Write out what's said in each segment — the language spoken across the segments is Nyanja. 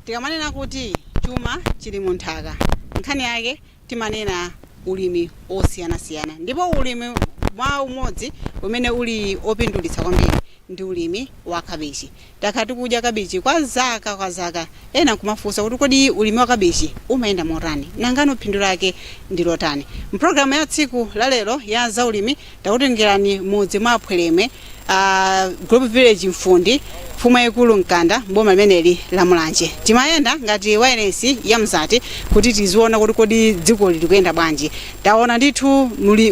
tikamanena kuti chuma chili mu nthaka nkhani yake timanena ulimi wosiyanasiyana ndipo ulimi mwa umodzi umene uli opindulitsa kwambiri ndi ulimi wa kabichi Takhala tikudya kabichi kwa zaka kwa zaka. Ena nkumafunsa kuti kodi ulimi wa kabichi umayenda motani? Nangano phindu lake ndi lotani? M'programu ya tsiku la lero ya zaulimi, takutengerani m'mudzi mwa Phweremwe, Group Village Mfundi, Mfumu yaikulu Mkanda m'boma limeneli la Mulanje. Timayenda ngati wailesi ya Mzati kuti tiziona kuti kodi dzikoli likuyenda bwanji. Taona ndithu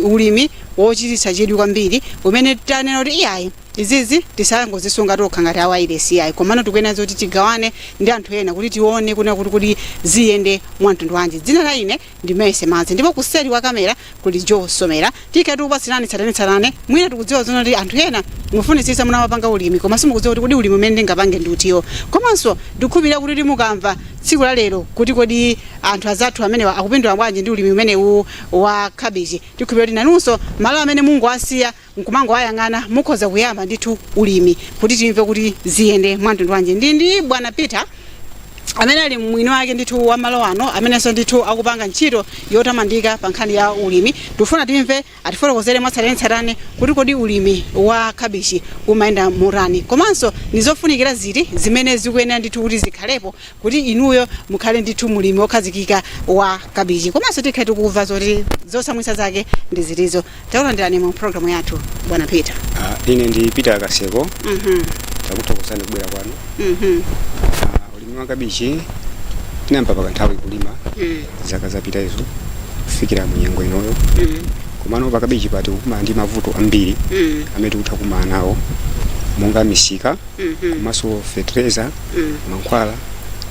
ulimi wochititsa chidwi kwambiri umene tanena kuti iyayi, Izizi tisangozisunga tokha ngati a wailesi ayi komano tikuyenera zoti tigawane ndi anthu ena kuti tione kunena kuti kodi ziyende mwa mtundu wanji. Dzina la ine ndi Mercy Madzi ndipo kuseli kwa kamera kuli Joe Somera. Tikhale tikupatsirani tsatanetsatane mwina tikudziwa zoona kuti anthu ena mukufunitsitsa mutamapanga ulimi koma simukudziwa kuti kodi ulimi umene ndingapange ndi utiwo. Komanso ndikukhulupirira kuti mukamva tsiku la lero kuti kodi anthu azathu amenewa akupindula bwanji ndi ulimi umenewu wa kabichi tikhulupirira kuti nanunso malo amene mumangowasiya nkumangowayang'ana mukhoza kuyamba ndithu ulimi kuti timve kuti ziyenda mwamtundu wanji ndili ndi bwana peter amene ali mwini wake ndithu wa malo ano amenenso ndithu akupanga ntchito yotamandika pa nkhani ya ulimi tifuna timve atifotokozere mwatsatanetsatane kuti kodi ulimi wa kabichi umayenda motani komanso ndi zofunikira ziti zimene zikuyenera ndithu kuti zikhalepo kuti inuyo mukhale ndithu mulimi wokhazikika wa kabichi komanso tikhala tikumva zoti zotsamwitsa zake ndi zitizo Takulandirani mu program yathu bwana Peter. Ah, ine ndi Peter Kaseko Mhm. takuthokozani kubwera kwanu. Mhm. Ah, ulimi wa kabichi tinayamba pa kanthawi kulima Mm. zaka zapita izo kufikira mu nyengo inoyo. Mm. Komano pa kabichi pa tikukumana ndi mavuto ambiri Mm. amene tikutha kukumana nawo monga misika Mhm. komanso fetereza mm. mankhwala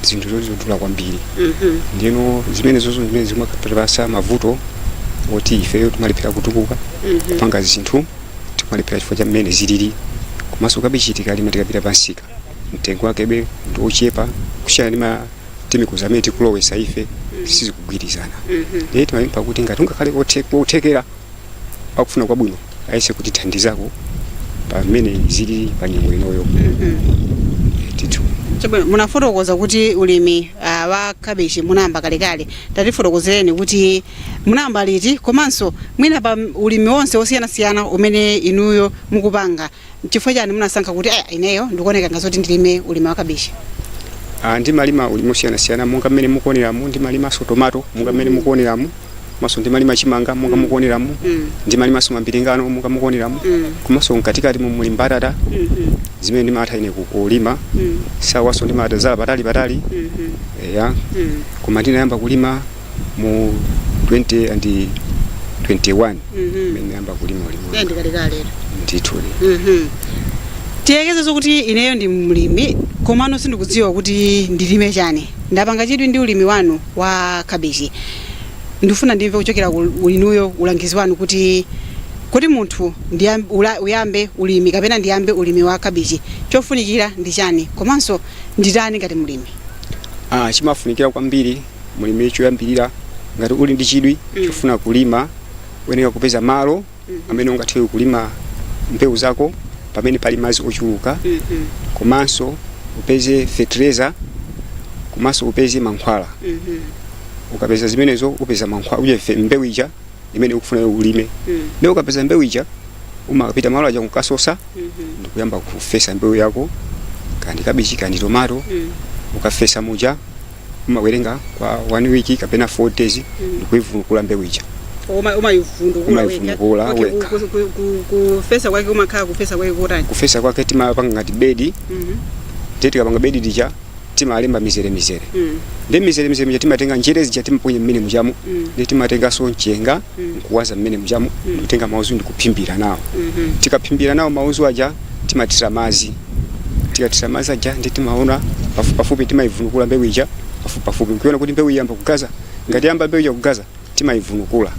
zinthu zoti zodula kwambiri mm -hmm. ndino zimene zozo zimene zimatipasa mavuto oti ifeyo timalephera kutukuka mm -hmm. kupanga zinthu timalephera chifukwa cha mmene zilili komanso kabichi tikalima tikapita pamsika mtengo wakebe ndi ochepa kusiyana ndi ma timikuza amene tikulowesa ife mm. sizikugwirizana mm -hmm. ndiye timapempha kuti ngati kungakhale kothekera kuti akufuna kwabwino ayese kutithandizako pamene zili pa nyengo inoyo ndithu Chabwino, munafotokoza kuti ulimi ah, wa kabichi munayamba kalekale tatifotokozereni kuti munayamba liti komanso mwina pa ulimi wonse wosiyanasiyana umene inuyo mukupanga N'chifukwa chani munasankha kuti aya ineyo ndikuoneka ngati zoti ndilime ulimi wa kabichi? Ah, ndimalima ulimi osiyanasiyana monga mmene mukuoneramu ndimalimanso tomato monga mmene mukuoneramu komanso ndimalima chimanga monga mukuoneramu ndimalimanso mambiringano monga mukuoneramu komanso mkatikati mu muli mbatata zimene ndimatha ine ku- kulima shuwa so ndimatazala patali patali eya koma ndinayamba kulima mu 2021 Mhm. mmene ndayamba kulima ulimi Ndiye ndi kalekale. ndithudi Mhm. tiyerekeze zokuti ineyo ndi mlimi komano sindikudziwa kuti ndilime chani ndapanga chidwi ndi ulimi wanu wa kabichi ndifuna ndimve kuchokera kwa inuyo ulangizi wanu kuti kodi munthu ndiyam- ula- uyambe ulimi kapena ndiyambe ulimi wa kabichi chofunikira ndi chani komanso nditani ngati mlimi ah, chimafunikira kwambiri mulimi choyambirira ngati uli ndi chidwi chofuna kulima uyenera kupeza malo amene ungathe kulima mbewu zako pamene pali madzi ochuluka komanso upeze fertilizer komanso upeze mankhwala ukapeza zimenezo upeze mankhwala uje fe- mbewu ija imene ukufuna iwe ulime ndipo ukapeza mbewu ija umapita malo aja kukasosa ndikuyamba kufesa mbewu yako kaya ndi kabichi kaya ndi tomato ukafesa muja umawerenga kwa one week kapena four days ndikuivunukula mbewu ija Uma- umayivunukula Umayivunukula wekha. Okay, wekha. ku- ku- ku- kufesa kwake kumakhala kufesa kwake kotani kufesa kwake timapanga ngati bedi Mhm, ndiye tikapanga bedi lija timalemba mizere mizere mhm, ndi mizere mizere mija timatenga njere zija timaponya mmene mujamo Mm. ndi timatenganso mchenga Mm. nkuwaza mmene mujamo ndikutenga mauzu ndikuphimbira nawo mhm. tikaphimbira nawo mauzu aja timathira madzi tikathira madzi aja ndi timaona pafupipafupi timaivunukula mbewu ija pafupipafupi nkuiona kuti mbewu yayamba kugaza ngati yayamba mbewu ija kugaza timaivunukula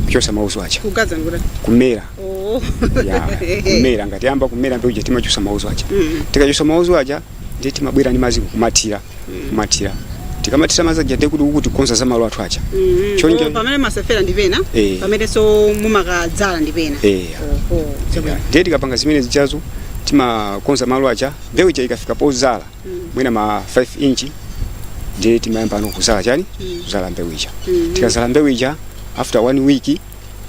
kuchotsa mauzu aja kugaza nkuti kumera oh ya kumera ngati yayamba kumera mbewu ija timachosa mauzu aja tikachotsa mauzu aja ndiye timabwera ndi madzi kumathira kumathira tikamathira madzi aja ndiye kuti tikukonza za malo athu aja Choncho- Oh, pamene mmafesera ndi pena Eh. pamenenso mumakadzala ndi pena Eh. Oho, chabwino. ndiye tikapanga zimene zijazo timakonza malo aja mbewu ija ikafika pozala mwina ma 5 inch ndiye timayambano kuzala chani kuzala mbewu ija tikazala mbewu ija after one week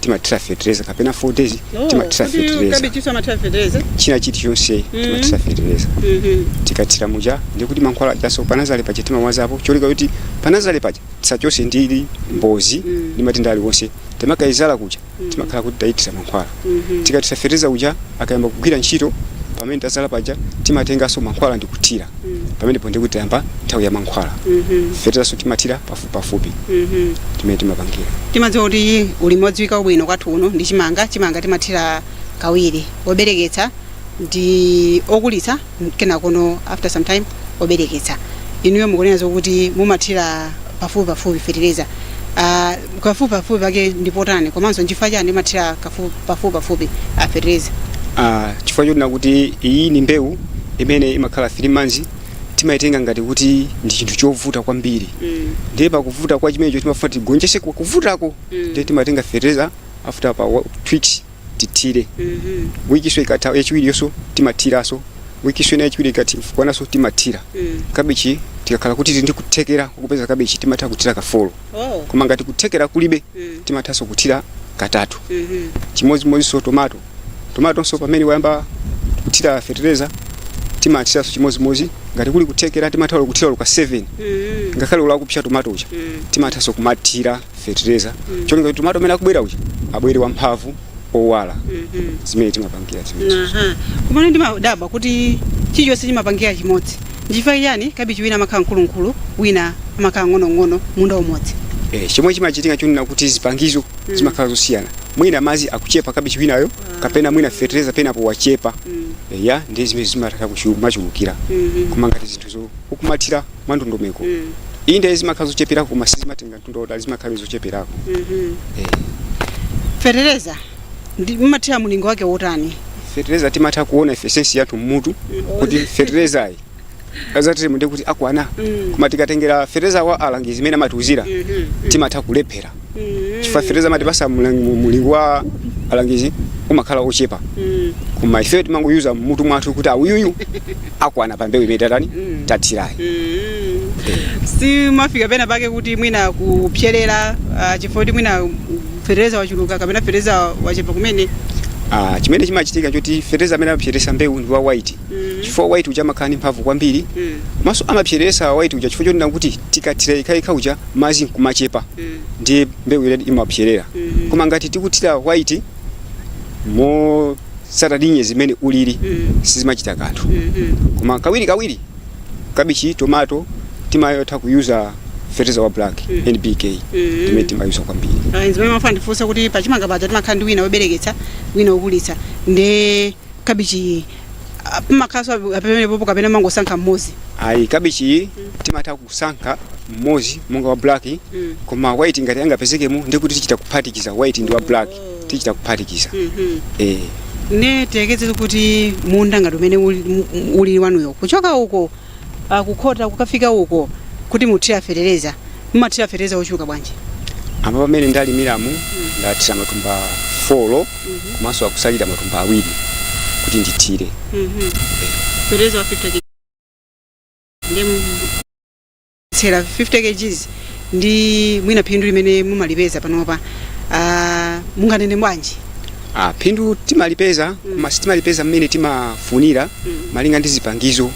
timathira fetereza kapena 4 days Oh, timathira kuti fetereza kabichiso amathira fetereza china chilichonse Mm. timathira fetereza Mhm. tikathira muja ndikuti mankhwala ajaso panazale paja timawazapo cholinga kuti panazale paja tisachose ili ndi mbozi Mm. ndi matenda aliwonse tikamayizala kuja timakhala kuti tayithira mankhwala Mhm. tikathira fetereza uja akayamba kugwira ntchito pamene tazala paja timatenganso mankhwala ndikuthira Mm. pamenepo ndikuti tayamba nthawi ya mankhwala Mhm. feterezanso timathira pa pafupi Mhm. timene timapangira timadziwa kuti ulimi odziwika bwino kwathu kuno ndi chimanga chimanga timathira kawiri obereketsa ndi okulitsa kenakono after some time obereketsa inuyo mukunena zokuti mumathira pafupi pafupi fetereza uh, pafupi pafupi pake ndi potani komanso nchifukwa chani mumathira kafu- pafupi pafupi a fetereza Ah, chifukwa choti nakuti iyi ni mbewu imene imakhala 3 months timaitenga ngati kuti ndi chinthu chovuta kwambiri Mm. ndiye pakuvuta kwa chimenecho timafuna tigonjese kuvutako Mm. ndiye timatenga fertilizer after pa wa- two weeks tithire Mhm. wikiso ikatha yachiwiriyoso timathiranso wikiso ina yachiwiri ikatikwananso timathira Mm. kabichi tikakhala kuti tili ndi kuthekera kupeza kabichi timatha kuthira kafolo Oh. koma ngati kuthekera kulibe Mm. timathanso kuthira katatu Mhm. chimodzimodzinso tomato tomatonso pamene wayamba kuthira fetereza timathiranso chimodzimodzi ngati kuli kuthekera timatha kuthira olo ka 7 Mm. ngakhale uli kupsa tomato uja Mm. timathanso kumathira fetereza cholinga kuti tomato amene akubwera uja abwere wamphamvu owala Mhm. ndi mmene timapangira zimenezo Aha. Kumene ndimadabwa kuti chilichonse timapangira chimodzi. Nchifukwa chiyani kabichi wina amakhala mkulumkulu, wina amakhala wamng'onong'ono munda umodzi. Eh, chomwe chimachitika chonena kuti zipangizo zimakhala zosiyana mwina madzi akuchepa kabichi winayo kapena mwina fetereza penapo wachepa eya ndi zimene zimatha kumachulukira koma ngati zinthuzo ukumathira mwandondomeko inde zimakhala zocheperako koma sizimatenga mtunda wautali zimakhala zocheperako Eh, fetereza ndi- mumathira mulingo wake wotani fetereza timatha kuona ife sensi yathu mmutu kuti feterezayi azatimu ndi kuti akwana Mm. koma tikatengera fetereza wa alangizi mmene amatiuzira Mhm. timatha kulephera Mm. chifukwa fetereza amatipasa mlang- mu- mulingo wa alangizi umakhala ochepa Mm. koma ife timangoyuza mmutu mwathu kuti aa uyuyu akwana pa mbewu imene tatani Mm. tathirayi Mm. simafika pena pake kuti mwina kupserera ah, chifukwa kuti mwina fetereza wachuluka kapena fetereza wachepa kumene Ah, chimene chimachitika choti fetereza amene amapseresa mbewu ndi wa white chifukwa white uja amakhala ndi mphamvu kwambiri komanso amapseresa white uja chifukwa chonena kuti tikathira yekayekha uja madzi nkumachepa ndiye mbewu ija imapserera koma ngati tikuthira white motsatana ndi nyengo mmene ulili sizimachita kanthu koma kawiri kawiri kabichi tomato timatha kuyuza fertilizer wa black NPK ndi amene timayuza kwambiri Ah, zimene ndimafuna ndifunse kuti pachimanga paja timakhala ndi wina wobereketsa wina wokulitsa ndi kabichiyi ah, pamakhalanso ape- apemenepopo kapena mumangosankha mmodzi ayi kabichiyi timatha kusankha mmodzi monga wa black Mm. koma white ngati angapezekemo ndikuti tichita kuphatikiza white ndi wa black tichita kuphatikiza eh nde tiyerekeze kuti munda ngati umene uli- mu- uli wanuyo kuchoka uko uh, kukhota kukafika uko kuti muthire fetereza mumathira fetereza wochuluka bwanji apa pamene ndalimiramu mm. ndathira matumba 4 mm -hmm. komanso akusalira matumba awiri kuti ndithire mm -hmm. eh. fetereza wa 50 ndiye tsera 50 kg ndi mwina phindu limene mumalipeza panopa uh, munganene bwanji Ah, phindu timalipeza koma sitimalipeza mmene timafunira malinga ndi zipangizo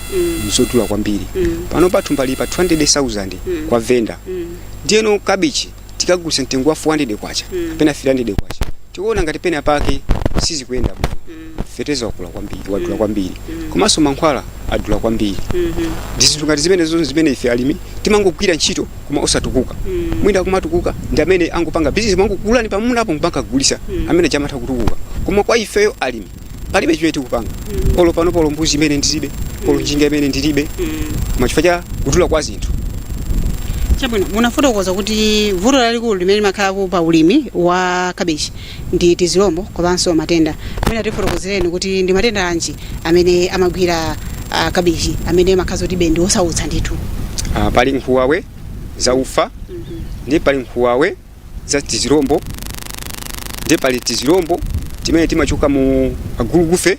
zodula kwambiri panopa thumba lili pa 200,000 kwa venda ndiyeno kabichi tikagulisa mtengo wa 400 kwacha kapena 300 kwacha tikuona ngati pena pake sizikuyenda bwino feteleza wakula kwambiri wadula kwambiri komanso mankhwala adula kwambiri ndi zinthu ngati zimenezo zimene ife alimi timangogwira ntchito koma osatukuka mwina kumatukuka ndi amene angopanga bizinesi amangogula pamundapo nkukagulitsa amene aja amatha kutukuka koma kwa ifeyo alimi palibe chimene tikupanga olo panopa olo mbuzi imene ndilibe olo njinga yomwe ndilibe koma chifukwa cha kudula kwa zinthu chabwino munafotokoza kuti vuto lalikulu limene limakhalapo pa ulimi wa kabichi ndi tizilombo komanso matenda mwina mutifotokozereni kuti ndi matenda anji amene amagwira uh, kabichi amene amakhala kuti ndi osautsa ndithu Ah, pali nsabwe zaufa ndi pali nsabwe za tizirombo nde pali tizirombo timene timachoka mu agulugufe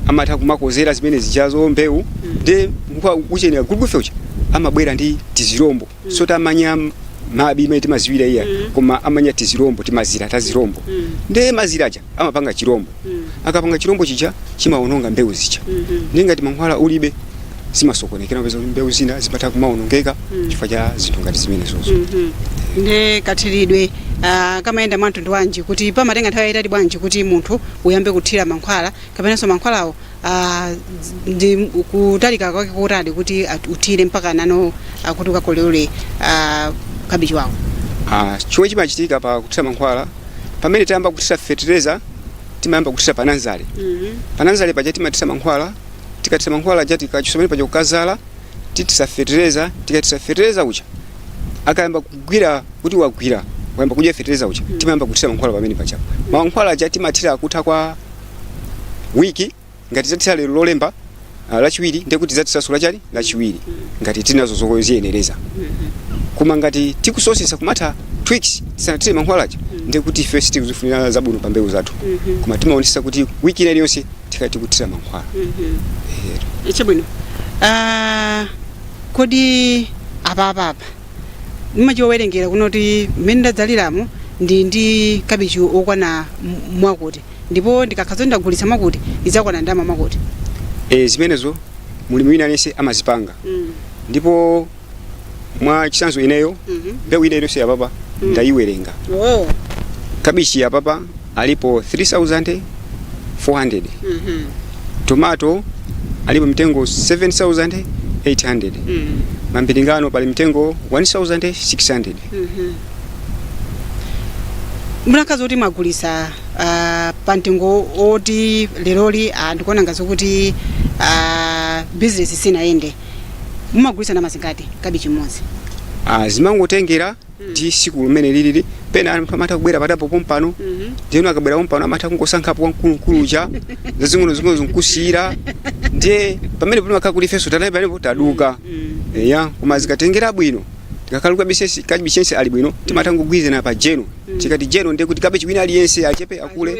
amatha kumakodzera zimene zijazo mbewu nde mkuwa uchenera gulugufe uja amabwera ndi tizirombonso tamanya manyi amene timaziwira iyayi koma amanya tizirombo timazira tazirombo nde mazira aja amapanga chirombo mm. akapanga chirombo chija chimaononga mbewu zija mm -hmm. nde ngati mankhwala ulibe zimasokonekera upeza mbewu zina zimatha kumaonongeka mm. chifukwa cha zinthu ngati zimenezozo mm -hmm. nde kathiridwe uh, ah, kamayenda mwa mtundu wanji kuti pamatenga nthawi yayitali bwanji kuti munthu uyambe kuthira mankhwala kapenanso mankhwalawo uh, ndi kutalika kwake kotani kuti uthire mpaka nano uh, kuti ukakolole uh, kabichi wawo uh, chomwe chimachitika pa kuthira mankhwala pamene tayamba kuthira fetereza timayamba kuthira pananzale pananzale paja timathira mankhwala tikathira mankhwala aja tikachotsa pamene paja kukazala tithira fetereza tikathira fetereza uja akayamba kugwira kuti wagwira wayamba kudya fetereza uja timayamba kuthira mankhwala pamene paja mankhwala aja timathira kutha kwa wiki ngati tathira lero lolemba ah, lachiwiri ndiye kuti tizathiranso lachani lachiwiri ngati tili nazo zoziyenereza koma ngati tikusowetsa kumatha two weeks tisanathire mankhwala aja ndiye kuti ife sitikuzifunira zabwino pa mbewu zathu koma timaonetsetsa kuti wiki ina iliyonse tikhale tikuthira mankhwala Eh, chabwino Ah, kodi apapapa mumachiwerengera kunena kuti mmene ndadzaliramo ndi ndi kabichi okwana m- mwakuti ndipo ndikakhala zoti ndagulitsa mwakuti idzakwana ndalama mwakuti e, zimenezo mulimi wina aliyense amazipanga mm. ndipo mwa chisanzo ineyo Mhm. mbewu ina iliyonse yapapa ndayiwerenga oh. kabichi yapapa alipo 3400 mm-hmm. tomato alipo mtengo 7800 mm. mambiringano pali mtengo 1600 mukakhala zoti mwagulisa ah, pa mtengo oti leroli ah, ndikuona ngati zokuti ah, bizinesi sinayende mumagulisa ndalama zingati kabichi mmodzi Ah, zimangotengera ndi siku limene lilili pena anthu amatha kubwera patapo pompano ndiyeno akabwera pompano amatha kungosankhapo wamkulumkulu uja zazing'ono zing'ono nkukusiyira ndiye pamene pamakhala kuti ifenso tanayi panepo taduka eya koma zikatengera bwino Ikakhala kabichi kabichi yense ali bwino timatha kugwirizana pa jeno tikati jeno ndiye kuti kabichi wina aliyense achepe akule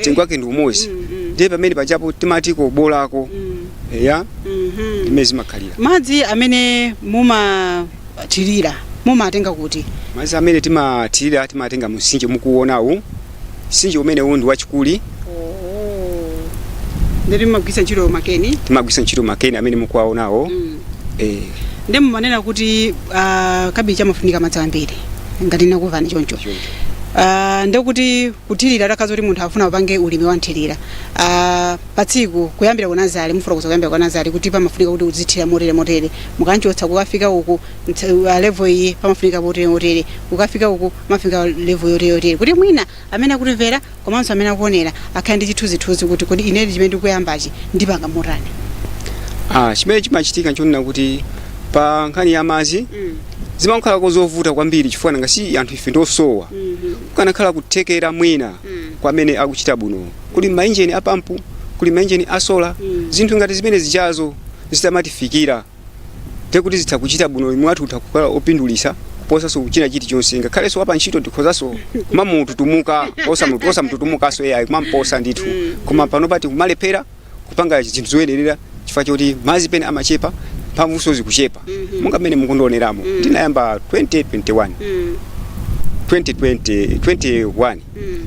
mtengo wake ndi umodzi ndiye pamene pajapo timati kobolako eya imene zimakhalira madzi amene mumathirira mumatenga kuti madzi amene timathirira timatenga mumsinje mukuwonawu msinje umenewu ndi wachikuli ndiye mumagwiritsa ntchito makeni timagwiritsa ntchito makeni amene mukuwaonawo Mm. eh, ndi mumanena kuti ah, kabichi amafunika madzi ambiri ngati ndinakumvani choncho choncho. Ah, ndekuti kuthirira takhala kuti munthu afuna upange ulimi wanthirira Ah, pa tsiku kuyambira ku nazale mufotokoza kuyambira ku nazale kuti pamafunika kuti uzithira motere motere mukanchotsa kukafika uku Ntha- uh, level iyi pamafunika motere motere ukafika uku pamafunika level yotere yotere kuti mwina amene akutimvera komanso amene akuonera akhale ndi chithunzithunzi kuti kodi ine chimene ndikuyambachi ndipanga motani ah, chimene chimachitika nchonena kuti pa nkhani ya madzi zimakhala kuti nzovuta kwambiri chifukwa nanga si anthu ife ndosowa kukanakhala kuthekera mwina kwa amene akuchita bwino kuli mainjini a pampu kuli mainjini a sola zinthu ngati zimene zijazo zitamatifikira ndiye kuti zitha kuchita bwino ulimi wathu utha kukhala opindulisa kuposanso china chilichonse ngakhalenso wapa ntchito ndikhozanso kumamututumuka osamutu- osamututumukanso ai kumamposa ndithu koma pano tikumalephera kupanga zinthu zoyenerera chifukwa choti madzi pena amachepa mphamvunso zikuchepa monga mmene mukundioneramo ndinayamba 2021 2020 21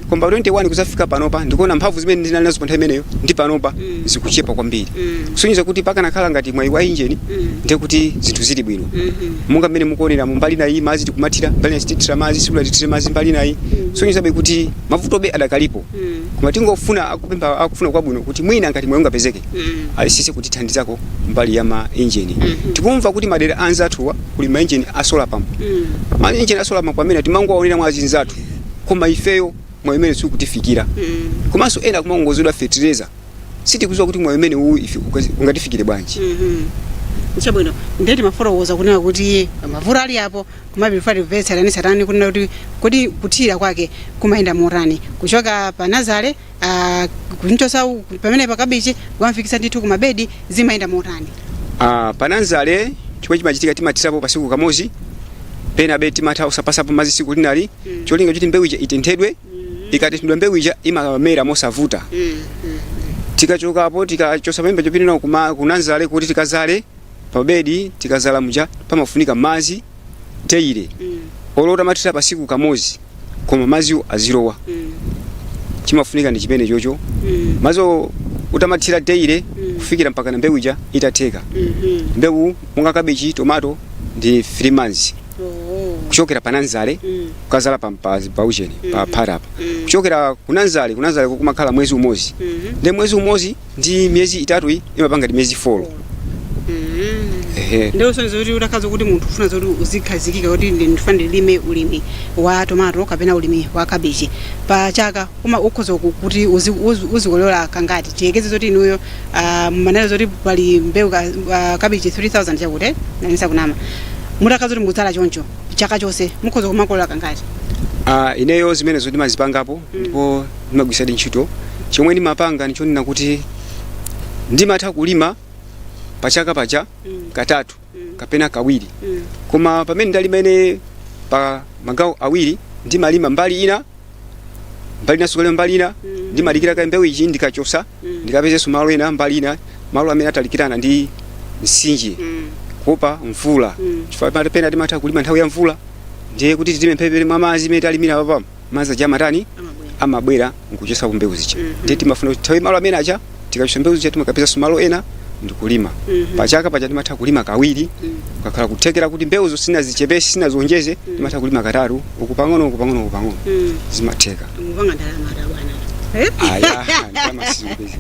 koma pa 21 kuzafika panopa ndikuona mphamvu zimene ndinali nazo pa nthawi imeneyo ndi panopa zikuchepa kwambiri kusonyeza kuti pakanakhala ngati mwayi wa injini ndiye kuti zinthu zili bwino monga mmene mukuonera mu mbali nayi madzi tikumathira mbali nayi sitithira madzi sikuti tithire madzi mbali nayi sonyezabe kuti mavutobe adakalipo koma tingofuna kupempha akufuna kwabwino kuti mwina ngati mwayi ungapezeke ayesese kutithandizako mbali ya ma injini tikumva kuti madera anzathuwa kuli ma injini a solar pump ma injini a solar pump amene timangowaonera mwa azinzathu koma ifeyo mwayi umene sukutifikira komanso ena kumakongozedwa fetereza sitikuziwa kuti mwayi umene uwu ife ukazi- ungatifikire bwanji chabwino ndiye timafotokoza kunena kuti mavuto alipo koma before timve tsatanetsatane kunena kuti kodi kuthirira kwake kumayenda motani kuchoka pa nazale Ah, kumchosa u- pamenepa kabichi kukamfikisa ndithu ku mabedi zimayenda motani Ah, pananzale chomwe chimachitika timathirapo pasiku kamozi pena be timatha osapasapo mazi siku lina ndi cholinga choti mbewu ija itenthedwe ikatenthedwa mbewu ija imamera mosavuta tikachokapo tikachosa pamenepa chopinira kunanzale kuti tikazale pa bedi tikazala muja pamafunika madzi daily Mm. olo utamathira pasiku kamodzi koma madziwo azilowa Mm. chimafunika ndi chimenecho Mm. madziwo utamathira daily Mm. kufikira mpaka na mbewu ija itatheka Mhm. mbewu monga kabeji tomato ndi 3 months Oh. kuchokera pa nanzale Mm. kukazala pa mpazi pa ujeni pa Mhm. phata apa Mm. kuchokera kunanzale kunanzale kumakhala mwezi umodzi Mhm. ndi mwezi umodzi ndi miyezi itatu iyi imapanga ngati miyezi folo ehe ndiye usonyeza kuti utakhala kuti munthu ufuna zoti uzikhazikika kuti ndi- ndifuna ndilime ulimi wa tomato kapena ulimi wa kabichi pa chaka uma ukhoza ku- kuti uzi- uzi- uzikolola kangati tiyekeze zoti inuyo ah, mumanena zoti pali mbewu ka- ah, kabichi 3000 chakuti nanisa kunama mutakhala kuti mukudzala choncho chaka chonse mukhoza kumakolola kangati Ah, ineyo zimenezo ndimazipangapo ndipo ndimagwirisadi ntchito chomwe ndimapanga ndichonena kuti ndimatha kulima pachaka paja mm. katatu mm. kapena kawiri mm. koma pamene ndalima ine pa magawo awiri ndimalima mbali ina mbali ina sukalima mbali ina mm. ndimadikira kaye mbewu ija ndikachosa mm. ndikapezenso malo ena mbali ina malo amene atalikirana ndi msinje mm. kuopa mvula mm. chifukwa pena timatha kulima nthawi ya mvula ndiye kuti timphepete mwa madzi mmene talimira papamu madzi aja amatani amabwera amabwera nkuchotsa mbewu zija Mhm. ndiye timafuna kuti tithawe malo amene aja tikachotsa mbewu zija timakapezanso malo ena ndikulima Mhm. pachaka paja timatha kulima kawiri Mm. ukakhala kuthekera kuti mbewuzo sinazichepese sinazionjeze timatha kulima katatu uku pang'ono uku pang'ono uku pang'ono Mm. zimatheka mupanga ndalama eti bwana Eh? aya ndamasizimpezi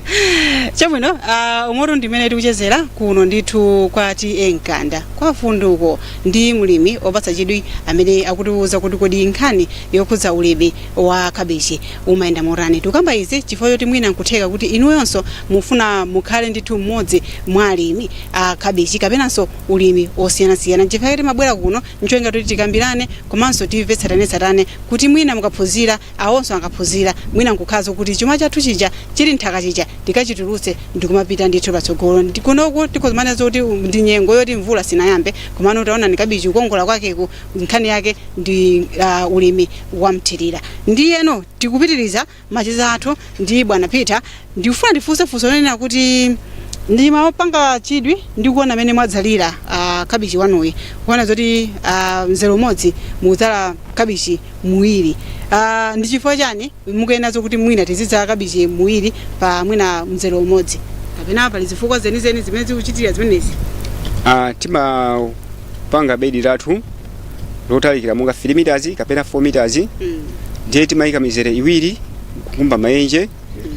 chabwino uh, umotu ndi mmene tikuchezera kuno ndithu kwa TA Mkanda kwa funduko ndi mlimi opatsa chidwi amene akutiuza kuti kodi nkhani yokhudza ulimi wa kabichi umayenda motani. Tikukamba izi chifukwa choti mwina nkutheka kuti inuyonso mufuna mukhale ndithu mmodzi mwa alimi a kabichi kapenanso ulimi osiyanasiyana. Nchifukwa chake timabwera kuno ncholinga choti tikambirane komanso timve tsatanetsatane kuti mwina mukaphunzira Awonso akaphunzira, mwina n'kukhala zokuti chuma chathu chija chili m'nthaka chija tikachitulutse ndikumapita ndithu patsogolo. Ndi kunoku tikhoza kumanena zoti ndi nyengo yoti mvula sinayambe, komano taonani kabichi kukongola kwakeku, nkhani yake ndi uh, ulimi wamthirira. Ndiyeno tikupitiriza macheza athu ndi bwana Peter Ndikufuna ndifunse funso lonena kuti ndimapanga chidwi ndi kuona mmene mwadzalira uh, kabichi wanuyi kuona zoti uh, mzere umodzi mukudzala kabichi muwiri uh, ndi chifukwa chani mukuyenazo kuti mwina tizidzala kabichi muwiri pa mwina mzere umodzi kapena pali zifukwa zenizeni zimene zikuchitira zimenezi Ah, timapanga bedi lathu lotalikira monga 3 meters kapena 4 meters mm. ndiye timayika mizere iwiri kukumba mayenje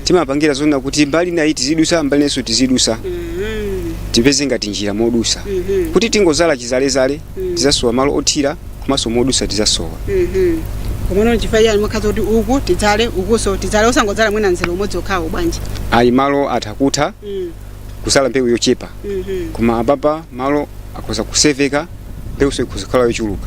timapangira zonna kuti mbali inayi tizidusa mbali inayinso tizidusa tipeze ngati njira modusamo kuti tingozala chizalezale tizasowa malo othira komanso modusa tizasowa komano chifukwa chani mumakhala zokuti uku tidzale ukuso tidzale osangodzala mwina nzere umodzi okhawo bwanji ayi malo atha kutha kuzala mbewu yochepa koma apapa malo akhoza kuseveka mbewunso ikhoza kukhala yochuluka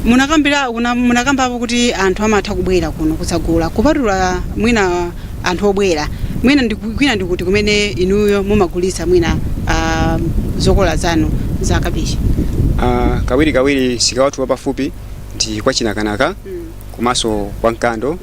munakambira una- munakambapo kuti anthu amatha kubwera kuno kudzagula kupatula mwina anthu obwera kwina ndi kuti kumene inuyo mumagulitsa mwina ah, zokola zanu za kabichi Ah, kawiri kawiri msika wathu wapafupi ndi kwa chinakanaka komanso kwa mkando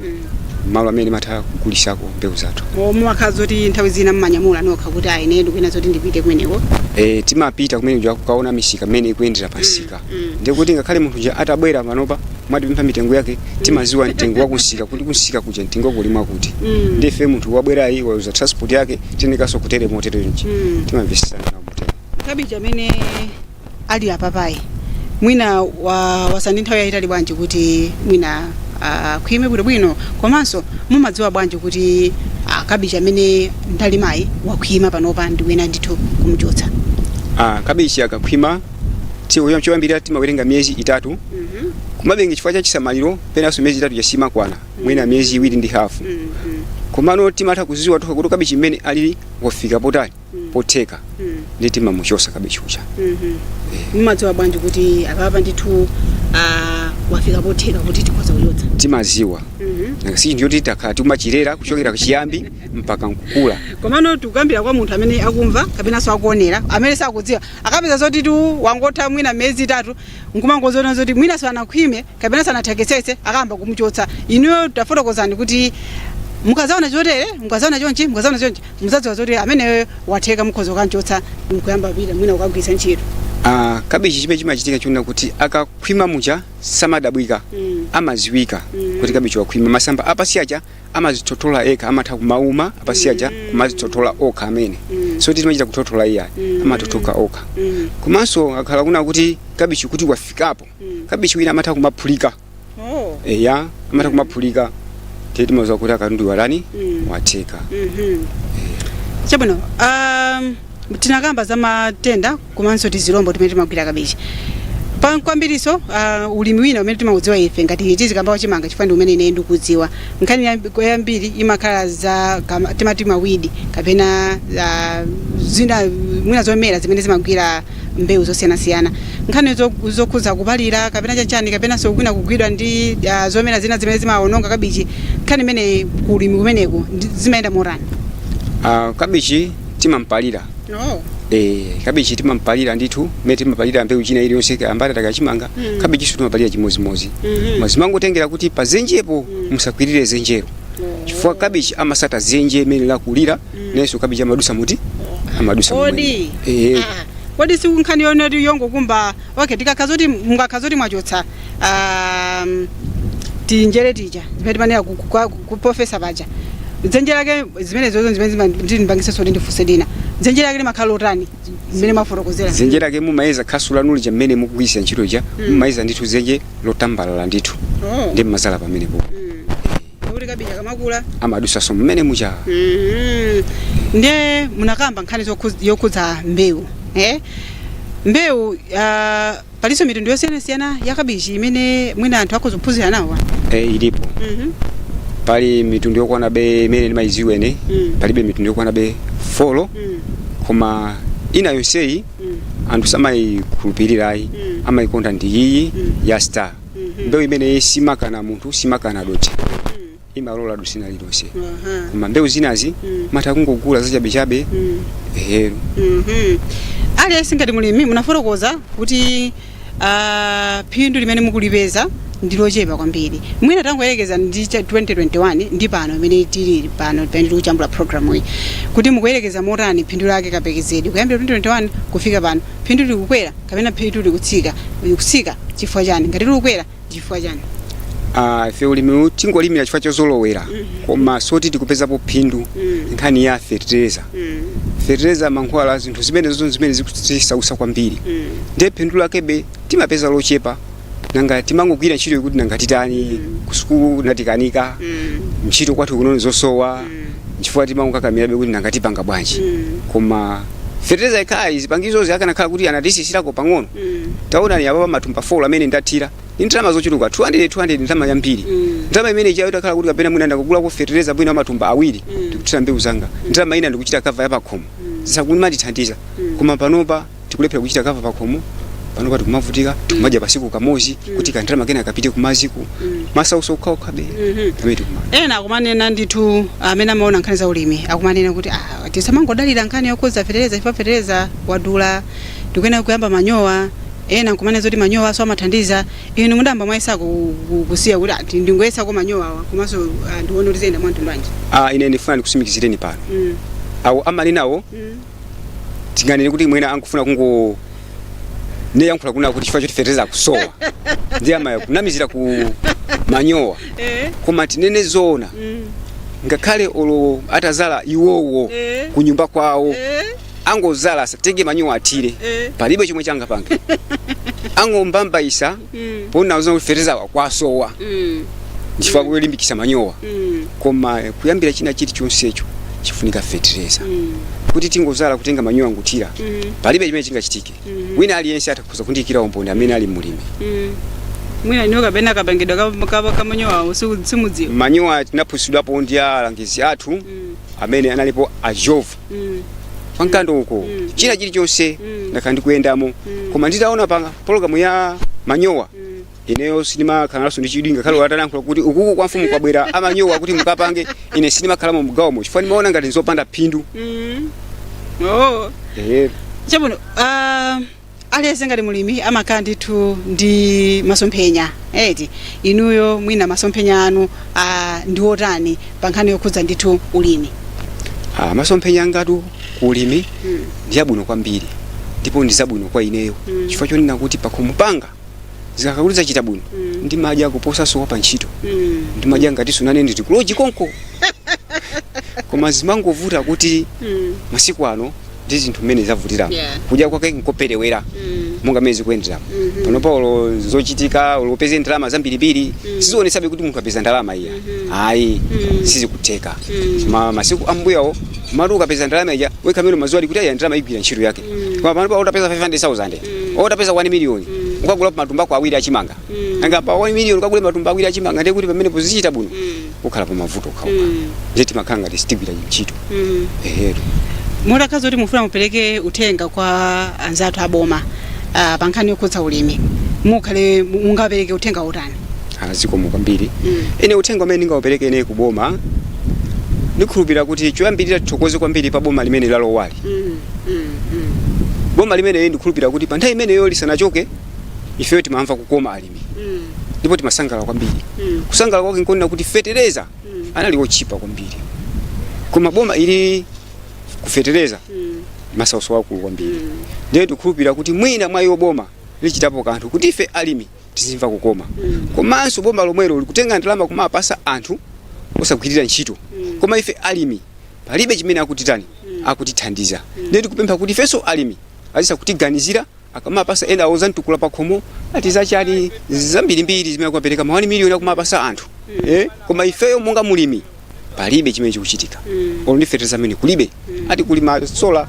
malo amene timatha kugulisako mbewu zathu O, mumakhala zoti nthawi zina mmanyamula nokha kuti ayi ine ndikuyena zoti ndipite kumeneko e, timapita kumene kuja kukaona misika mmene ikuyendera pamsika ndiye kuti ngakhale munthu uja atabwera panopa kwatipempha mitengo yake timaziwa mtengo wa kunsika kuti kunsika kuja mtengo kuli mwakuti ndiye ife munthu wabwerayi wawuza transport yake tionekanso kutere motere nji timamvesesana nawo motere kabichi amene ali apapayi mwina wa ndi nthawi yayitali bwanji kuti mwina akhwime bwinobwino komanso mumadziwa bwanji kuti ah, kabichi amene ndalimayi wakhwima panopa ndikuyenera ndithu kumchotsa Ah, kabichi akakhwima tiku chom- choyambirira timawerenga miyezi itatu kumatengera chifukwa cha chisamaliro penanso miyezi itatu yasanakwane mwina miyezi iwiri ndi hafu komano timatha kuziwa tokha kuti kabichi mmene alili wafika potali potheka ndi timamuchosa kabichi uja mumadziwa bwanji kuti apapa ndithu ah, wafika potheka kuti tikhoza kuchotsa timaziwa nanga si chinthu choti takhala tikumachirera kuchokera kuchiyambi mpaka nkukula komano tikukambira kwa munthu amene akumva kapenanso akuonera amene sakudziwa akapeza zotitu wangotha mwina miyezi itatu nkumangoziona zoti mwinanso anakhwime kapena sanathekesese akayamba kumuchotsa inuyo tafotokozani kuti mukazaona chotere mukazaona chonchi mukazaona chonchi muzadziwa zoti ameneyo watheka mukhoza kukamchotsa mkuyamba pita mwina kukagwiritsa ntchito Ah, kabichi chimene chimachitika choonera kuti akakhwima muja samadabwitsa Mm. amaziwika Mm. kuti kabichi wakhwima masamba apasi aja amazithothola okha amatha kumauma apasi aja kumazithothola okha amene Mm. si timachita kuthothola iyayi Mm. amathothoka okha Mm. komanso akhala kuna kuti kabichi kuti wafikapo kabichi wina amatha kumaphulika Oh. eya amatha kumaphulika ndiye timaziwa kuti katundu watani Mm. watheka Mhm. Chabwino. Um, tinakamba za matenda komanso tizilombo timene timagwira kabichi. Pa kwambiriso uh, ulimi wina umene timaudziwa ife ngati tizikamba wachimanga chifukwa ndi umene ine ndikudziwa. Nkhani yambi- yambiri imakhala za kama- timati mawidi kapena uh, zina mwina zomera zimene zimagwira mbewu zosiyanasiyana. Nkhani zo- zokhudza kupalira kapena chanchani kapenanso kwina kugwidwa ndi ah, zomera zina zimene zimawononga kabichi, nkhani imeneyi ku ulimi kumeneku ndi- zimayenda motani? Ah, kabichi timampalira Oh. Eh, kabichi timampalira ndithu mmene timapalira mbewu ina iliyonse mbatata kachimanga Mm. kabichinso timapalira chimodzimodzi Mhm. Koma zimangotengera kuti pa zenjepo musakwirire zenjero chifukwa kabichi amasata zenje mmene lakulira nayenso kabichi amadusa moti amadusa kodi momwemo. Eh, eh. Ah, kodi sikunkhani yonena zoti yongokumba okay tikakhala zoti mungakhala zoti mwachotsa um, tinjere tija zimene timanena ku- ku- kwa- ku- ku profesa paja dzenje lake zimene ndizo zimene zima- ndipangise soti ndifunse china dzenje lake limakhala lotani zimene mwafotokozera dzenje lake mumayeza khasu lanu lija mmene mukugwiritsa ntchito lija mumayeza ndithu dzenje lotambalala ndithu Oh. ndiye mmazala pamenepo Pakuti kabichi akamakula. amadusaso mmene muja Mhm. ndiye munakamba nkhani zokhu- yokhudza mbewu eh? mbewu uh, palinso mitundu yosiyanasiyana ya kabichi imene mwina anthu akhoza kuphunzira nawo e, ilipo Mhm. pali mitundu yokwanabe imene ndimayiziwa ine Mm. palibe mitundu yokwanabe folo Mm. koma ina yonseyi Mm. anthu samayikhulupirirayi Mm. amayikonda ndi iyi Mm. ya star mbewu imeneyi simakana munthu simakana dothi imalola dothi lililonse Aha. koma mbewu zinazi Mm. mutha kungogula zachabechabe Mm. ehe Mhm. aliyense ngati mulimi munafotokoza kuti ah, phindu limene mukulipeza ndi lochepa kwambiri mwina tangoyerekeza ndi cha 2021 ndi pano mmene tili pano pamene tikujambula programu iyi kuti mukuyerekeza motani phindu lake kapekezedwe kuyambira 2021 kufika pano phindu likukwera kapena phindu likutsika likutsika chifukwa chani ngati likukwera chifukwa chani Ah, ife ulimi tingolimira chifukwa chozolowera koma soti tikupezapo phindu nkhani ya fertilizer fertilizer mankhwala zinthu zimenezo zimene zikutisausa kwambiri ndiye phindu lakebe timapeza lochepa nanga timangogwira ntchito yokuti nanga titani ku sukulu natikanika ntchito kwathu kuno zosowa nchifukwa timangokakamirabe kuti nanga tipanga bwanji koma fertilizer ikhale zipangizo zikanakhala kuti anatisisirako pang'ono taonani apa pa matumba 4 amene ndathira ndi ndalama zochuluka 200 200 ndalama yambiri ndalama imene ichayo itakhala kuti kapena mwina ndakagulako fertilizer bwino amatumba awiri ndikuthira mbewu zanga ndalama ina ndikuchita kava yapakhomo zizakumandithandiza koma panopa tikulephera kuchita kava pakhomo panopa tikumavutika tikumadya pasiku kamozi kuti kandalama kena kapite kumaziku masauso okhaokhabe amene tikukumana ena akumanena ndithu amene amaona nkhani za ulimi akumanena kuti ah, tisamangodalira nkhani yokuza fetereza chifukwa fetereza wadula ndikuyenera kuyamba manyowa ena nkumanena zoti manyowanso amathandiza inu mudayamba mwayesa ku- ku- kusiya kuti ndingoyesako manyowawa komanso ah, ndione kuti ziyenda mwantundu wanji Ah, ine ndifuna ndikusimikizireni pano awo amanena awo tinganene kuti mwina akufuna kungoyankhula kunena kuti chifukwa choti fertilizer akusowa ndiye amayamba kunamizira ku manyowa Eh. koma tinene zoona Mm. ngakhale olo atazala iwowo Eh. ku nyumba kwawo Eh. angozala atenge manyowa athire Eh. palibe chomwe changapange angombambaisa Mm. poona zoona kuti fertilizer wa- kwasowa Mm. nchifukwa kulimbikisa manyowa Mm. koma eh, kuyambira china chilichonsecho chifunika fertilizer Mm. kuti tingozala kutenga manyowa nkuthira Mm. palibe chimene chingachitike Mhm. wina aliyense atha kundiyikira umboni amene ali mulimi Mm. mwina inuyo kapena kapangidwa ka- ka- kamanyowawo siku- simudziwa manyowa tinaphunzitsidwapo ndi alangizi athu Mm. amene analipo a jove pa Mkando uko china chilichonse ndakhala ndikuyendamo koma nditaona pa pologalamu ya manyowa ineyo sindimakhalanso ndi chidwi ngakhale atalankhula kuti ukuku kwa mfumu kwabwera amanyowa kuti mukapange ine sindimakhalamo mgawomo chifukwa ndimaona ngati nzopanda phindu Oh. Eh, Chabwino, ah, Aliyense ngati mlimi amakhala ndithu ndi masomphenya eti inuyo mwina masomphenya anu ah, ndi otani pa nkhani yokhudza ndithu ulimi Ah, masomphenya angatu ku ulimi mm. ndi abwino kwambiri ndipo ndi zabwino kwa ineyo Mm. chifukwa chonena kuti pakhomo panga zikakhala kuti zachita bwino Mm. ndimadya kuposanso wa pa ntchito Mm. ndimadya ngati sunane nditi kuloji konko koma zimangovuta kuti Mm. masiku ano ndi zinthu mmene zavutiramo Yeah. kudya kwake nkopelewera Mm. monga mmene zikuyendera Mhm. panopa olo zochitika olo upeze ndalama zambirimbiri sizionesabe kuti munthu apeza ndalama iyayi Mm. sizikutheka Mm. koma masiku ambuyawo mati ukapeza ndalama ija wekha umadziwa kuti aya ndalama igwira ntchito yake koma panopa utapeza 500000 utapeza 1 million ukagula matumba ako awiri achimanga nanga pa 1 million ukagule matumba awiri achimanga ndiye kuti pamene pozichita bwino ukhala pa mavuto okhaokha ndiye timakhala ngati sitigwira ntchito eh tu mutakhaza kuti mufuna mupereke uthenga kwa anzathu aboma ah, pa nkhani yokhudza ulimi mukhale mu- mungapereke uthenga utani azikomo kwambiri Mm. ine uthenga umene ndingaupereke ine ku boma ndikhulupirira kuti choyambirira tithokoze kwambiri pa boma limene lalowali boma limeneli ndikhulupirira kuti pa nthawi imeneyo lisanachoke ifeyo timamva kukoma alimi Mm. ndipo timasangalala kwambiri Mm. kusangalala kwake nkonena kuti fetereza Mm. anali otchipa kwambiri koma boma ili ku fetereza Mm. masauso wakulu kwambiri Mm. ndiye tikhulupirira kuti mwina mwa iwo aboma achitapo kanthu kuti ife alimi tizimva kukoma Mm. komanso boma lomwelo likutenga ndalama kumapasa anthu osagwirira ntchito Mm. koma ife alimi palibe chimene akutitani akutithandiza ndiye tikupempha kuti ifenso alimi azisa kutiganizira akamapasa ena awo za Mtukula Pakhomo ati zachani zambirimbiri zimene akumapereka ma 1 miliyoni akumapasa anthu eh? koma ifeyo monga mulimi palibe chimene chikuchitika olo ndi fetereza yemwe kulibe ati kuli masola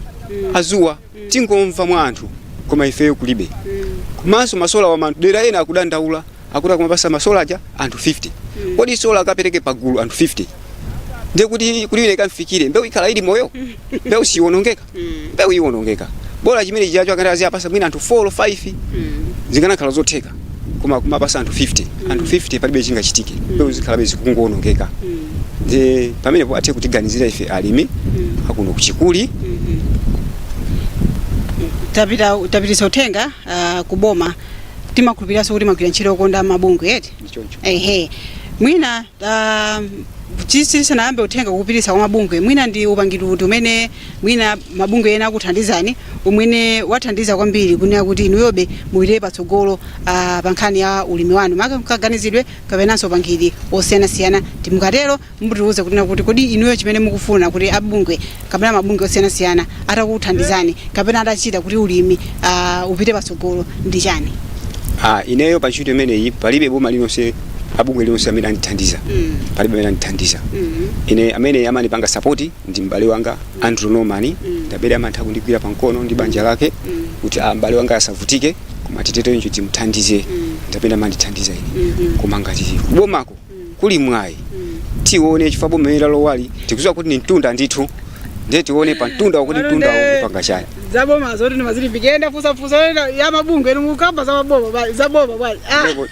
adzuwa tingomva mwa anthu koma ifeyo kulibe komanso masolawa madera ena akudandaula akuti akumapasa masola aja anthu 50 kodi sola akapereke pagulu anthu 50 ndiye kuti kuti ine ikamfikire mbewu ikhala ili moyo mbewu siwonongeka mbewu iwonongeka bola chimene chijacho akati aziyapasa mwina anthu 4 or 5 zikanakhala zotheka koma kumapasa anthu 50 anthu 50 palibe chingachitike mbewu zikhalabe zikungowonongeka ndi pamenepo athe kutiganizira ife alimi akuno kuchikuli tapititsa uthenga uh, ku boma timakhulupiriranso kuti mumagwira ntchito yokhudza mabungwe eti ndichoncho ehe mwina uh, tisanayambe uthenga kupititsa kwa mabungwe mwina ndi upangiri uti umene mwina mabungwe ena akuthandizani umene wathandiza kwambiri kunena kuti inuyobe mupitire patsogolo uh, pa nkhani ya ulimi wanu maka kaganizidwe kapenanso upangiri osiyanasiyana tikatero mutiuze kunena kuti kodi inuyo chimene mukufuna kuti abungwe kapena mabungwe osiyanasiyana atakuthandizani kapena atachita kuti ulimi uh, upite patsogolo ndi chani Ah, ineyo pa ntchito imeneyi palibe boma lililonse bungwe lililonse amene andithandiza Mm. palibe amene andithandiza mm. ine amene amandipanga sapoti ndi m'bale wanga andrew norman ndi amene amatha kundigwira pa mkono ndi banja lake kuti ah, m'bale wanga asavutike koma titeterenji timuthandize ndi amene amandithandiza ine koma ngati kubomako kuli mwayi tione chifukwa boma limene lalowali tikudziwa kuti ni mtunda ndithu ndiye tione pa mtunda wakuti mtunda Alonde. upanga chani zaboma zoti ndimazilimbikila ndafusafusa yenda ya mabungwe inu mukamba za mabungwe za boma bwana Ah, Ndipo-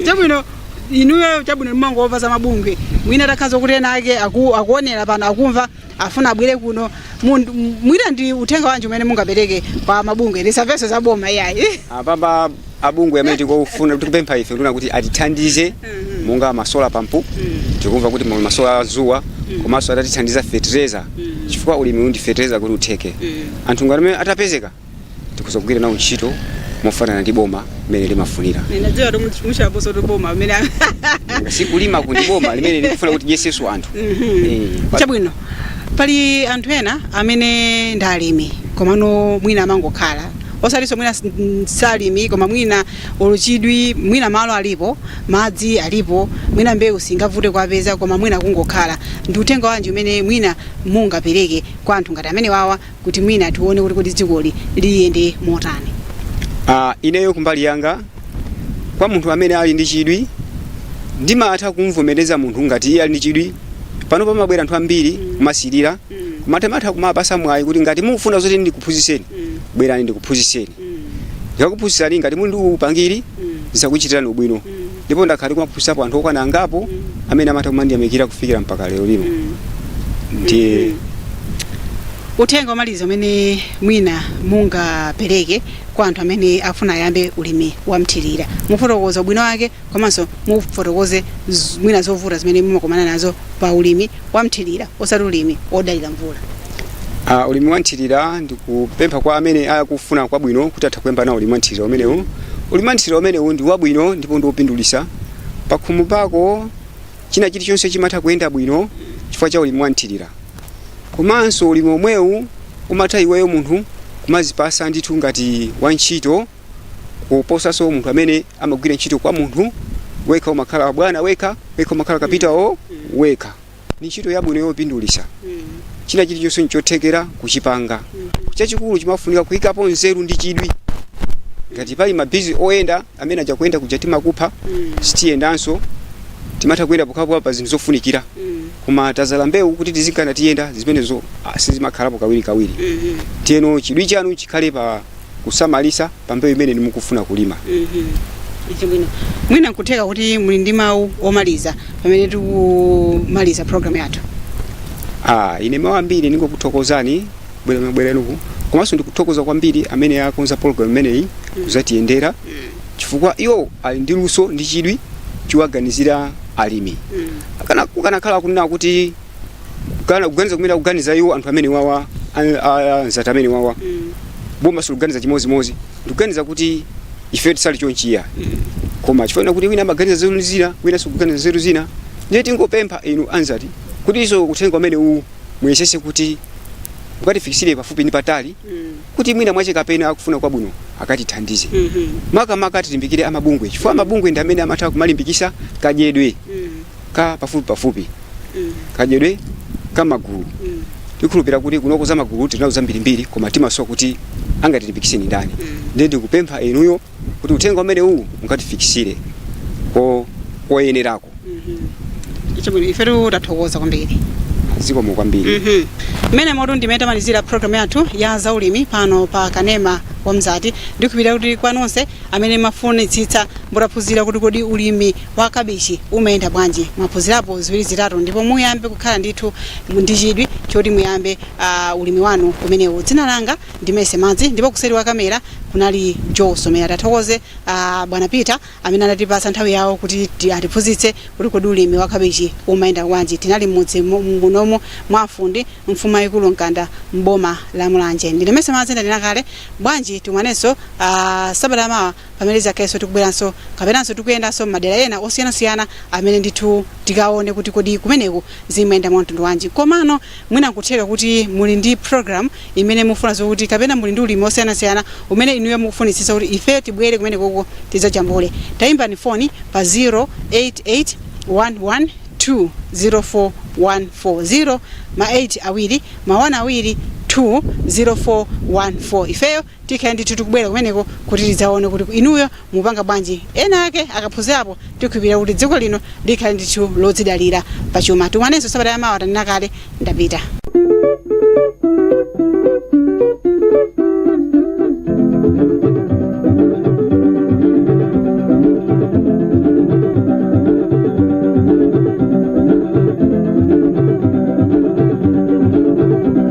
chabwino inuyo chabwino mumangomva za mabungwe mwina takhaza kuti ena ake aku- akuonera pano akumva afuna abwere kuno Mundu- m- mwina ndi uthenga wanji umene mungapereke kwa mabungwe ndi nthambiso za boma iyayi apapa mabungwe amene tikufuna tikupempha ife nduna kuti atithandize monga masola pampu tikumva kuti muli masola a zuwa komanso atatithandiza fetereza chifukwa ulimiwu ndi fetereza kuti utheke anthu ngati amene atapezeka tikhoza kugwira nawo ntchito mofanana ndi boma mmene limafunira Ninadziwa kuti much- muchaposa kuti boma amene sikulima kuti boma limene likufuna kuti lyeseso anthu Eh, pa- chabwino pali anthu ena amene ndi alimi komano mwina amangokhala osalinso mwina s- n- salimi koma mwina ulibe chidwi mwina malo alipo madzi alipo mwina mbewu singavute kuipeza koma mwina kungokhala ndi uthenga wanji umene mwina mungapereke kwa anthu ngati amenewawa kuti mwina tione kuti kodi dzikoli liyende motani. Uh, ineyo kumbali yanga kwa munthu amene ali ndi chidwi ndimatha kumvomereza munthu ngati iye ali ndi chidwi pano pamabwera anthu ambiri mm. kumasirira mm. timatha kuwapasa mwayi kuti ngati mukufuna zoti ndikuphunzitseni mm. bwerani ndikuphunzitseni mm. ndikakuphunzitsani ngati muli ndi upangiri mm. zakuchitirani ubwino mm. Ndipo ndakhala ndikumaphunzitsapo anthu okwana angapo amene amatha kumandiyamikira kufikira mpaka lero lino. Ndiye Uthenga womaliza umene mwina mungapereke kwa anthu amene afuna ayambe ulimi wa mthirira. Mufotokoze ubwino wake komanso mufotokoze z- mwina zovuta zimene mumakumana nazo pa ulimi wa mthirira osati ulimi wodalira mvula. Uh, ulimi wa mthirira ndikupempha kwa amene akufuna kwabwino kuti atha kuyamba nawo ulimi wa mthirira umenewu ulimi wa mthirira umenewu ndi wabwino ndipo ndi wopindulitsa pakhomo pako china chilichonse chimatha kuyenda bwino chifukwa cha ulimi wa mthirira komanso ulimi omwewu umatha iweyo munthu kumazipasa ndithu ngati wantchito kuposanso munthu amene amagwira ntchito kwa munthu wekha umakhala bwana wekha wekha umakhala kapitawo wekha ni ntchito yabwino yopindulisa china chilichonse nchothekera kuchipanga chachikulu chimafunika kuyikapo nzeru ndi chidwi ngati pali mabizi oyenda amene aja kuyenda kuja timakupha sitiyendanso timatha kuyenda pokhapokha pa zinthu zofunikira koma tazala mbewu kuti tizikanayenda zimenezo ah, sizimakhalapo kawirikawiri tiyeno chidwi chanu chikhale pa kusamalitsa pa mbewu imene inu mukufuna kulima. Chabwino. Mwina nkutheka kuti muli ndi mawu omaliza pamene tikumaliza program yathu. Ah, ine mawu ambiri ndingokuthokozani bwera- kubwera kwanuku komanso ndikuthokoza kwambiri amene akonza program imeneyi kuzatiyendera chifukwa iwo ali ndi luso ndi chidwi chowaganizira alimi Akana- kukanakhala kunena kuti kana kuganiza kumene akuganiza iwo anthu amene wawa a- a- anzati amene wawa Mm. boma silikuganiza chimodzimodzi ndikuganiza kuti ife tisali chonchiya koma chifukwa kuti wina amaganiza zeru zina wina sakuganiza zeru zina ndiye tingopempha inu anzati kuti izo uthenga umene uwu muyesese kuti mukatifikisire pafupi ndi patali Mm. kuti mwina mwache kapena akufuna kwabwino akatithandize Mhm. makamaka tilimbikire amabungwe chifukwa amabungwe ndi amene amatha kumalimbikisa kadyedwe Mm. ka pafupipafupi kadyedwe ka magulu tikhulupira kuti kunoko za magulu tinazo zambirimbiri koma timasowa kuti angatilimbikise ndi ndani ndiye ndikupempha inuyo kuti uthenga umene uwu mukatifikisire ko koyenerako chabwino ifetu tathokoza kwambiri zikomo kwambiri Mhm. mmene motu ndi mmene tamalizira programu yathu ya zaulimi pano pa kanema wa mzati ndikukhulupira kuti kwa nonse amene mafunitsitsa mutaphunzira kuti kodi ulimi wa kabichi umayenda bwanji? Mwaphunzirapo ziwiri zitatu ndipo muyambe kukhala ndithu mu- ndi chidwi choti muyambe uh, ulimi wanu umenewu. Dzina langa ndi Mercy Madzi ndipo kuseri kwa kamera kunali Joe Somera. Tathokoze uh, bwana Peter amene anatipatsa nthawi yawo kuti ti- atiphunzitse kuti kodi ulimi wa kabichi umayenda bwanji. Tinali mmudzi mu- munomu mwa afundi mfumu yayikulu Mkanda mboma la Mulanje. Ndine Mercy Madzi ndanena kale bwanji tikumanenso uh, sabata mawa pamene tidzakhalenso tikubweranso kapenanso tikuyendanso m'madera ena osiyanasiyana amene ndithu tikaone kuti kodi kumeneko zimayenda mwa mtundu wanji komano mwina nkutheka kuti muli ndi program imene mufuna zokuti kapena muli ndi ulimi osiyanasiyana umene inuyo mukufunitsitsa kuti ifeyo tibwere kumenekoko tidzajambule tayimbani foni pa 088 11 20414 ma 8 awiri ma 1 awiri 20414 ifeyo Tikhale ndithu tikubwera kumeneko kuti tidzaone kuti inuyo mukupanga bwanji ena ake akaphunzirapo tikhulupira kuti dziko lino likhale ndithu lodzidalira pa chuma. Tikumanenso sabata ya mawa tanena kale ndapita.